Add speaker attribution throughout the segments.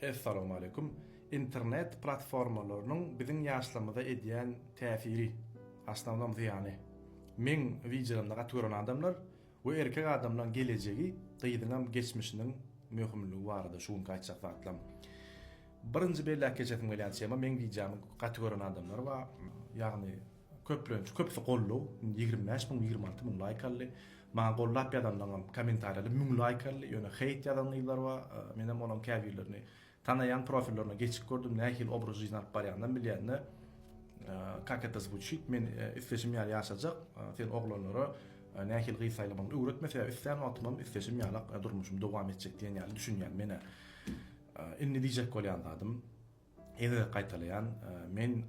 Speaker 1: Essalowmaleýkum. Internet platformalarynyň biziň ýaşlarymyza edýän täsiri, asnownom zyýany. Meň wideolarymda gaty gören adamlar we erkek adamlaň gelejegi gyzyňam geçmişiniň möhümligi barada şu günki aýtjak zatlam. Birinji belläp geçesim gelýän tema meň wideomy gaty gören adamlar bar. Ýagny Köplenç köpsi gollow ýigrimi bäş müň ýigrimi alty müň laýk aldy. Maňa gollap ýazanlaňam kommentariýada müň laýk aldy. Ýöne heýt ýazan gyzlar bar. Menem olaň käbirlerini tanaýan profillerine geçip gördüm nähili obraz jizyny alyp barýanynam bilýände kak eta zvuçit men isleşim ýaly ýaşajak sen oglanlara nähili gyz saýlamagyny öwretme sebäbi islän wagtymam isleşim ýalak durmuşym dowam etjek diýen ýaly düşünýän menä indi diýjek bolýan zadym. Ýene-de gaýtalaýan, men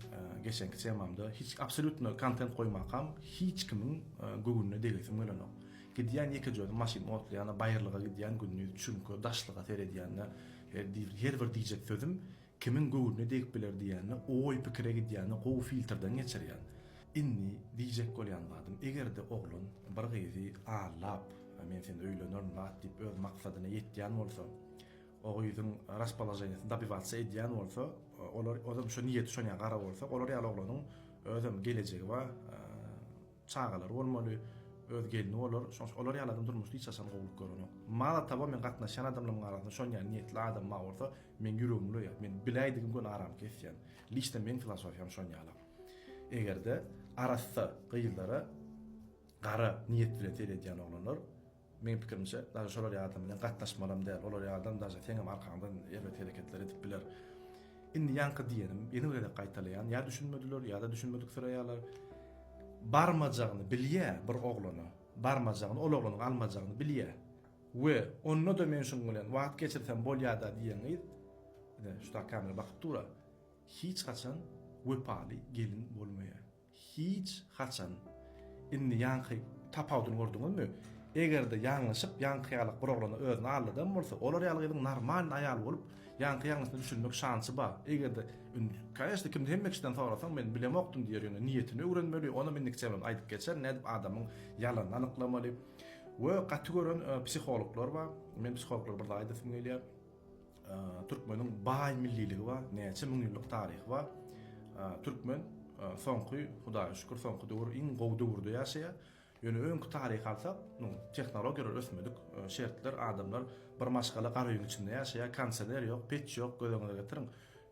Speaker 1: geçenki temamda hiç absolýutno kontent goýmakam hiç kimiň göwnüne degesim gelenok. Gidýän ýekejödüm maşyn otlaýanda baýyrlyga gidýän gündiz çüňke, daşlyga seredýände her bir diýjek sözüm kimiň göwnüne degip biler diýende oý pikire gidýände gowy filtrden geçirýän. Indi diýjek bolýan zadym egerde oglan bir gyzy allap men seni öýlenerin lat diýip öz maksadyna ýetýän bolsa O gyzyň raspoloženiýasyny dobiwatsy edýän bolsa, olar özem şo niýeti şonýa gara bolsa, olar ýaly oglanyň özem gelejegi bar, çagalary bolmaly, öz gelni bolar, şoň üçin olar ýaly adam durmuşda hiç haçan gowulyk görenok. Malo towo men gatnaşýan adamlarymyň arasynda şonýa niýetli adam bar bolsa, meň ýüregim ulaýar, men biläýdigim gün aram kesýän. Liçno meň filosofiýam şonýala. Eger-de arassa gyzlara gara niýet bilen seredýän oglanlar, Meň pikirimçe daže şolar ýaladam bilen gatnaşmalam däl olar ýaladam daže seňem arkaňdan erbet hereketler edip biler. Indi ýaňky diýenim ýene bir gezek gaýtalaýan ýa düşünmediler ýada düşünmediksireýaler barmajagyny bilýä bir oglana barmajagyny ol oglanyň almajagyny bilýä we ondada men şuň bilen wagt geçirsem bolýada diýen gyz ine şuda kamera bakyp dura hiç haçan wepaly gelin bolmaýa. Hiç haçan. Indi ýaňky tapawudyny gördüňizmi? Eger-de ýalňyşyp ýaňky ýaly bir oglana özüni aldadan bolsa, olar ýaly gyzyň normalny aýal bolup, ýaňky ýalňyşyna düşülmek şansy bar. Eger-de indi, kanyşna, kimde hemme kişiden sorasaň, men bilemokdym diýer, ýöne niýetini öwrenmeli, onam indiki çemem aýdyp geçer, nädip adamyň ýalanyny anyklamaly. We gaty gören psihologlar bar. Men psihologlara bir zat aýdasym gelýär. Türkmeniň baý milliligi bar, näçe müň ýyllyk taryhy bar. Türkmen soňky, Hudaýa şükür, soňky döwür iň gowy döwürde ýaşaýar. Ýöne öňki taryhy alsak, tehnologiýalar ösmedik, şertler, adamlar bir maşgala gara öýüň içinde ýaşaýar, kondisioner ýok, peç ýok, göz öňüňe getiriň.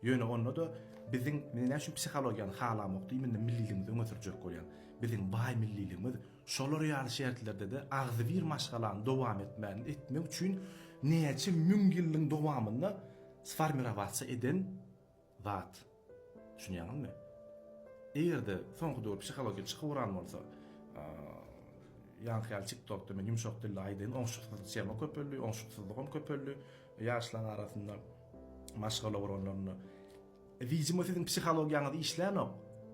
Speaker 1: Ýöne onda-da biziň, men näme üçin psihologiýany halamok diýminde milliligimizi öňe sürjek bolýan. Biziň baý milliligimiz, Şolar ýaly şertlerde-de agzybir maşgalany dowam etmänini etmek üçin näçe müň ýyllyň dowamynda sformirowatsa eden zat. Düşünýäňizmi? Eger-de soňky döwür psihologiýa çykyp uran bolsa, ýaňky ýaly TikTokda men ýumşak dilde aýdaýyn, oňşuksyzlyk tema köpeldi, oňşuksyzlygam köpeldi ýaşlaň arasynda, maşgala guranlarynda. Widimo siziň psihologiýaňyz işlänok.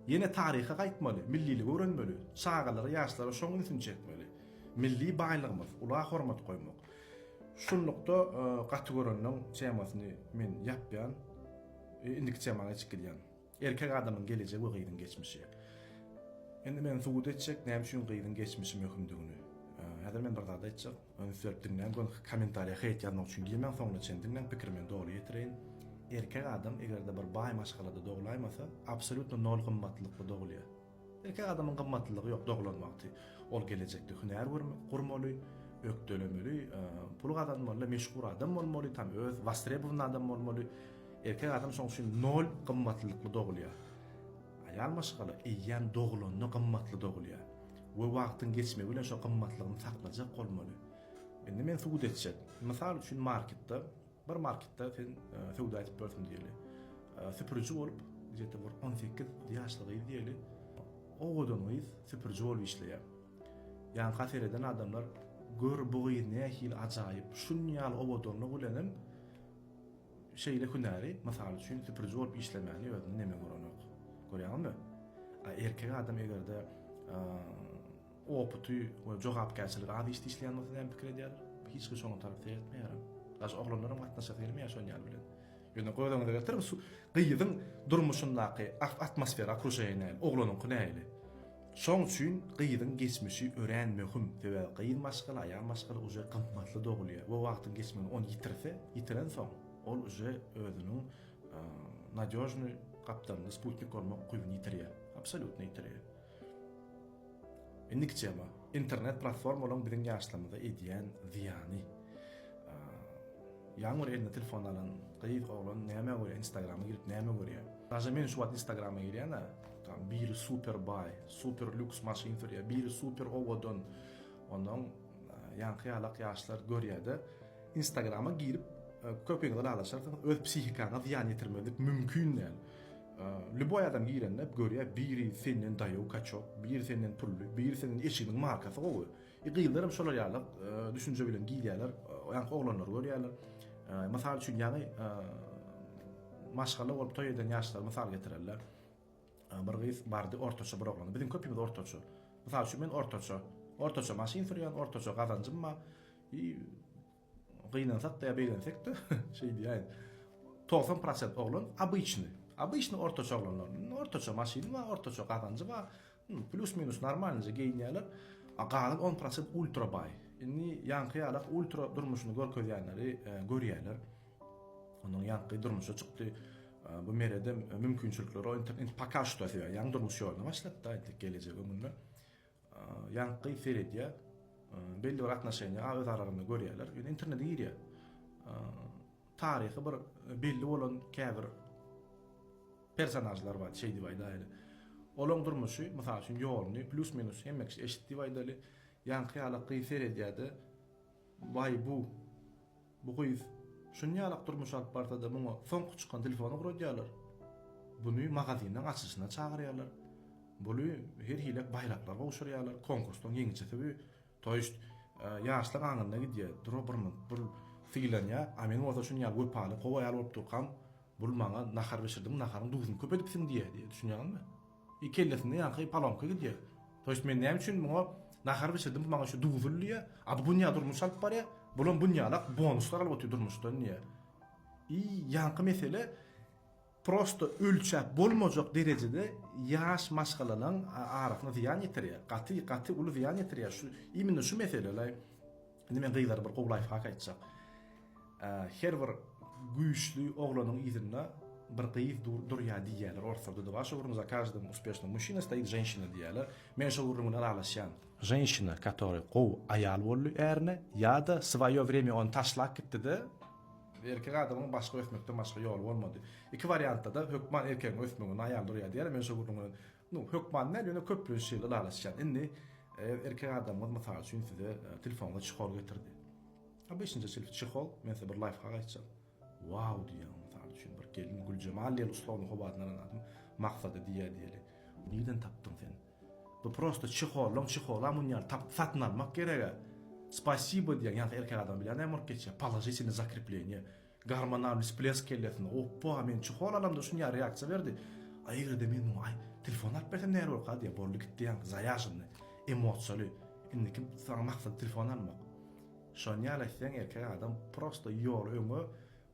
Speaker 1: Ýene taryha gaýtmaly, milliligi öwrenmeli, çagalara, ýaşlara şoň ünsüni çekmeli. Milli baýlygymyz, ula hormat goýmak. Şunlukda gaty görenden temasyny men ýapýan. Indiki temaňa geçip gidýän. Erkek adamyň gelejegi we gyzyň geçmişi. Indi men subut etjek näme üçin gyzyň geçmişi möhümdigini. Häzir men bir zat aýtjak. Ony sürüp diňläň, öňki kommentariýa heýt ýazmak üçin girmäň, soňuna çenli diňläň, pikirimi doly ýetireýin. Erkek adam eger-de bir baý maşgalada doglaýmasa, absolýutno nol gymmatlylykly dogulýar. Erkek adamyň gymmatlylygy ýok doglan wagty. Ol gelejekde hünär gurmaly, ökdelemeli, pul gazanmaly, meşhur adam bolmaly, tam öz wostrebowany adam bolmaly. Erkek adam şoň üçin nol gymmatlylykly dogulýar. Aýal maşgala eýýäm dogulanda gymmatly dogulýar we wagtyň geçmegi bilen şo gymmatlygyny saklajak bolmaly. Indi men subut etjek. Mysal üçin marketde, bir marketde sen söwda edip ýörsüň diýeli. Süpüriji bolup, gije-de bir on sekiz ýaşly gyz diýeli, owadan gyz süpüriji bolup işleýär. Ýanka sereden adamlar gör bu gyz nähili ajaýyp, şunýaly owadanlygy bilenem, Şeýle hünäri, mysal üçin, süpüriji bolup işlemäni özünde neme görenok. Görýäňizmi? A erkek adam eger-de oputy we jogapkärçiligi az işde işleýän bolsa näme pikir edýär? Hiç kim şoňa tarap seretmeýär. Daşy oglanlaram gatnaşasy gelmeýär şol ýaly bilen. Ýöne göz öňüňize getiriň, gyzyň durmuşyndaky atmosfera, okruşeniýa nähili, oglanyňky nähili? Şoň üçin gyzyň geçmişi örän möhüm, sebäbi gyz maşgala, aýal maşgala uje gymmatly dogulýar we wagtyň geçmeginde ony ýitirse, ýitirensoň, ol uje özüniň nadýožnyý gapdalynda sputnik bolmak ukybyny ýitirýär, absolýutno ýitirýär. Indiki tema, internet platformalaryň biziň ýaşlarymyza edýän zyýany. Ýaňy bir eline telefon alan gyz, oglan nämä görýär, instagrama girip näme görýär? Daže men şu wagt instagrama girýän-ä. Tam biri super baý, super lýuks maşyn sürýär, biri super owadan. Ondan ýaňky ýalak ýaşlar görýär-de, Instagrama girip e, köpegiňizi lalaşarsyňyz, öz psihikaňa zyýan ýetirmezlik mümkin däl. E, lüboý adam girende görýär, biri senden daýaw kaçok, biri senden pully, biri senden eşiginiň markasy gowy. E, gyzlar hem şolar ýalak e, düşünje bilen girýärler, ýaňky oglanlary görýärler. Mysal üçin, ýaňy maşgala bolup toý eden ýaşlar mysal getirerler. Bir gyz bardy, ortaça bir oglan. Biziň köpimiz ortaça. Mysal üçin, men ortaça. Ortaça maşyn sürýän, ortaça gazanjym bar. I gynansak-da ýa begensekde, şeý diýäýin. Togsan prosent oglan obyçny. Obyçny ortaça oglanlar. Ortaça maşyny bar, ortaça gazanjy bar. Plus minus normalnyja geýinýäler. A galan on prosent ultra baý. Indi ýaňky ýala ultra durmuşyny görkezýänleri görýäler. Onuň ýaňky durmuşa çykdy. Bu merede mümkinçilikleri indi poka şu da ýaňy durmuş ýoluna başlapdy aýtdyk gelejek öňünde. Ýaňky seredýä belli bir atnaşeniýa a öz aralarynda görýäler. Indi internete girýä. Taryhy bir belli bolan käbir Personažlar bar, şeý diýip aýdaýaly. Olaň durmuşy, mysal üçin, ýoluny plýus-minus hemme kişi eşit diýip aýdaly. Ýaňky ýalak gyz seredýär-de, Waý, bu, bu gyz şuny ýalak durmuş alyp barsa-da, muňa soňky çykan telefony ugradýarlar. Buny magazinleň açylyşyna çagyrýarlar. Buly her hili baýraklar gowşurýarlar, konkursdan ýeňijisi bu. To jest ýaşlar aňyrna gidýär, dura birmynt bul sylanýar, a men bolsa şuny ýaly wepaly kow aýal bolup durkam bul maňa nahar bişirdiň naharyň duzuny köp edipsiň diýýär diýýär düşünýäňizmi? I kellesinde ýaňky palonka gidýär. To jest men näme üçin muňa nahar bişirdim bu maňa şu duzul diýýär, a bu günýä durmuş alyp barýar, bulam günýälak bonuslar alyp otyr durmuşdan diýýär. I ýaňky mesele. prosto ölçäp bolmajak derejede ýaş maşgalalaň arasyna zyýan ýetirýär, gaty gaty uly zyýan ýetirýär, şu imенно şu meselelä indi men gyzlara bir gowy laýfhak aýtjak, her bir güýçli oglanyň yzynda bir gyz durýar diýýärler orslarda da bar şu gürrüň za każdym uspešnym muşina stoýit ženşina diýýärler men şo gürrüň bilen ylalaşýan, ženşina katory gowy aýal boldy ärine ýada swaýo wremýa ony taşlap gitdide Erkek adamyň başga ösmekden başga ýoly bolmady. Iki wariantda-da hökman erkegiň ösmeginde aýal durýar diýýärler. Men şo gürrüňi, nu, hökman däl, ýöne köplenç şeýle ylalaşýan. Indi, eger erkek adamyňyz, mysal üçin, size telefoňyza çihol getirdi. Obyçnja çihol, men size bir laýfhak aýtjak. Wau diýýäň, mysal üçin, bir gelin Güljemal diýeli ussagyň howadyny alan adam Maksada diýýär diýeli. Nirden tapdyň sen? Bu prosta çehollyň çehola munýan takty satyn almak gerega. Spasibo diýýän ýaňky erkek adam bilýän näme bolup geçýär, položitelnyý zakrepleniýe, gormonalnyý splesk kellesinde, oppa men çehol alamda şunýa reaksiýa berdi, a egerde men muňa aý telefon alyp bersem näl bolarka diýýär, boldy gitdi ýaňky zaýažynnyý, emosiýaly, indiki saňa maksat telefon almak. Şonýaly etseň erkek adam prosta ýoly öňe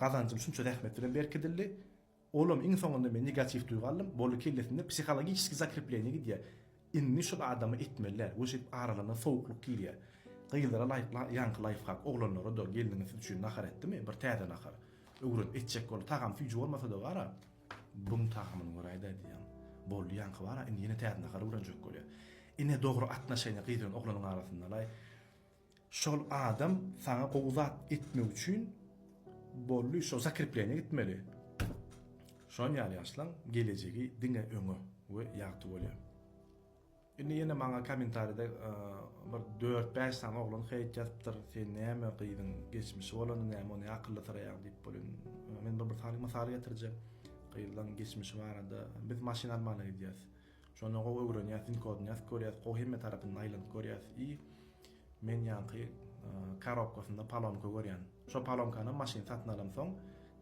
Speaker 1: Gazanjym şunça zähmet bilen berkidildi. Olam iň soňunda men negatiw duýgy aldym. Boldy kellesinde psihologiçeskiý zakrepleniýa gidýär. Indi şul adama etmeliler we şeýdip aralarynda sowuklyk girýär. Gyzlara laýyk ýaňky laýfhak, oglanlara-da gelniňiz siz üçin nahar etdimi? Bir täze nahar. Öwren, etjek bol. Tagam süýji bolmasa-da gara, buň tagamyny göräýdä diýýän. Boldy ýaňky bara, indi ýene täze nahar öwrenjek bolýar. Ine dogry atnaşeniýa gyz bilen oglanyň arasyndalaý. Şol adam saňa gowy zat etmek üçin bolly şo zakrepleniýa gitmeli. Şon ýaly ýaşlaň gelejegi diňe öňe we ýagty bolýar. Indi ýene maňa komentaride bir dört bäş sany oglan heýt ýazypdyr sen näme gyzyň geçmişi bolany näme ony akylly syraýaň diýip bolýan. Men bir bir sany mysal getirjek gyzlaň geçmişi barada biz maşyn almana gidýäs. Şonda gowy öwrenýäs, dinkodunýas, görýäs, gowy hemme tarapyndan aýlanyp görýäs i men ýaňky karobkasynda palonka görýän. Şo palonkanam maşyn satyn alamsoň,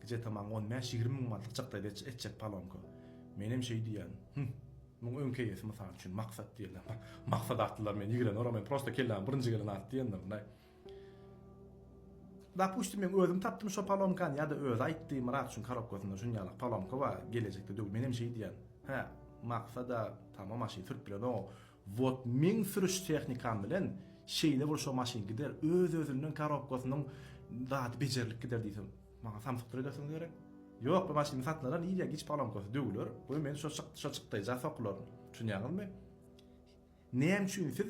Speaker 1: gije-te maňa on bäş, ýigrimi müň manatlyk çykdaý etjek palonka. Menem şeý diýýän, Hüh, muň öňki eýesi mysal üçin Maksat diýýän. Maksat atlylar meni ýigreneweraý, men prosta kelläme birinji gelen at diýendirin-aý. Dapustim men özüm tapdym şo palomkany ýa-da özi aýtdy Myrat şuň korobkasynda şuny ýalak palomka bar gelejekde döw menem şeý diýýän hä maksada tamam maşyn sürüp biledoňo wot meň sürüş tehnikam bilen şeýle bir şo maşyn gider öz özünden korobkasynyň zady bejerilip gider diýsem maňa samsykdyr edersiňiz gerek ýok bu maşyny satynala nirýe giç palomkasy döwüler goý men şo şo çykdaýja sokularyn düşünýäňizmi. Näme üçin siz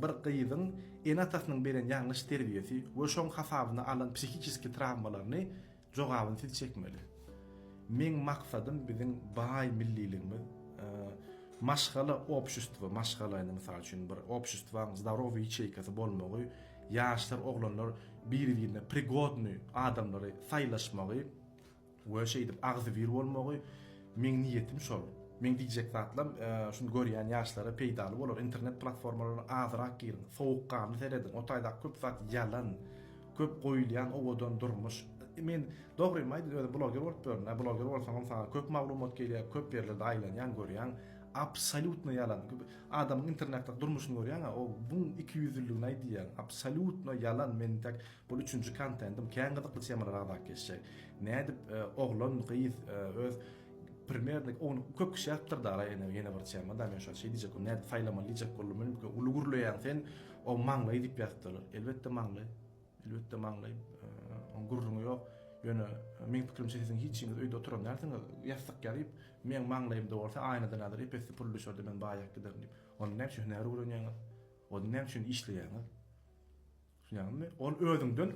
Speaker 1: bir gyzyň ene-atasynyň beren ýalňyş terbiýesi we şoň hasabyna alan psihiçeski trawmalaryny jogabyny siz çekmeli? Meň maksadym biziň baý milliligimiz, maşgala obşustwo, maşgala indi mysal üçin bir obşustwaň zdarowyý ýaçeýkasy bolmagy, ýaşlar, oglanlar biri-birine prigodnyý adamlary saýlaşmagy, We şeýdip agzybir bolmagy meň niýetim şol. Meň diýjek zatlam şuny görýän ýaşlara peýdaly bolar, internet platformalaryna azyrak giriň, sowukganly serediň, o taýdaky köp zat ýalan, köp goýulýan owadan durmuş, men dogrymy aýdyň özüm bloger bolup ýörün-ä, bloger bolsaňam saňa köp maglumat gelýär, köp ýerlerde aýlanýaň, görýäň, absolýutno ýalan, adamyň internetdäki durmuşyny görýäň-ä, o buň ikiýüzlüligini aýdýaň, absolýutno ýalan, men intäk Bul üçünji kontentim kän gyzykly temalar agzap geçjek. Nädip oglan gyz öz primernik ony köp kişi ýatypdyr da araýa ýene bir tema da men şo şeý diýjek boldum nädip saýlamaly diýjek boldum men bu uly gürleýäň sen o maňlaý diýip ýatypdyr elbetde maňlaý elbetde maňlaý on gürrüňi ýok ýöne meň pikirimçe siziň hiç hiniz öýde oturan dälsiňiz ýassyk ýazyp meň maňlaýymda bolsa aýnadan adyr epesli pul düşerde men baýap giderin diýip onda näme üçin hünär öwrenýäňiz onda näme üçin işleýäňiz Düşünýäňizmi? Ol özüňden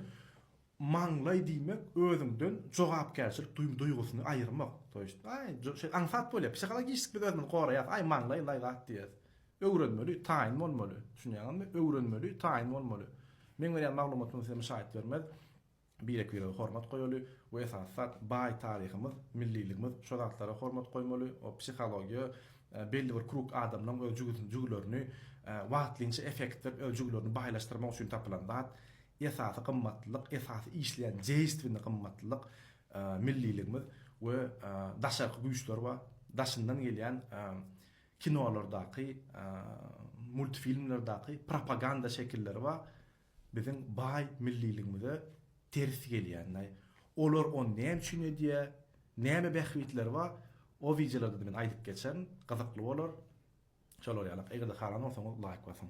Speaker 1: maňlaý diýmek, özüňden jogapkärçilik duýgusyny aýyrmak. To ýest, aý, şeýle aňsat bolýar. Psihologişski biz özümizi goraýas, aý maňlaý laý zat diýýäs. Öwrenmeli, taýyn bolmaly. Düşünýäňizmi? Öwrenmeli, taýyn bolmaly. Meň berýän maglumatym size müşaýat bermez. birek-birege hormat goýaly we esasy zat baý taryhymyz, milliligimiz şo zatlara hormat goýmaly, o psihologiýa belli bir krug adamlaň öz jügüsini jügülerini wagtlynça efektdir öz jügülerini baýlaşdyrmak üçin tapylan zat esasy gymmatlylyk esasy işleýän deýstwini gymmatlylyk milliligimiz we daşarky güýçler bar daşyndan gelýän kinolardaky multfilmlerdaky propaganda şekilleri bar. biziň baý milliligimize ters gelýän daýy. Olar ony näme üçin edýär, näme bähbitleri bar, o wideolarda men aýdyp geçerin, gyzykly bolar. Şolar ýaly. Eger-de halan bolsaňyz laýk basyň.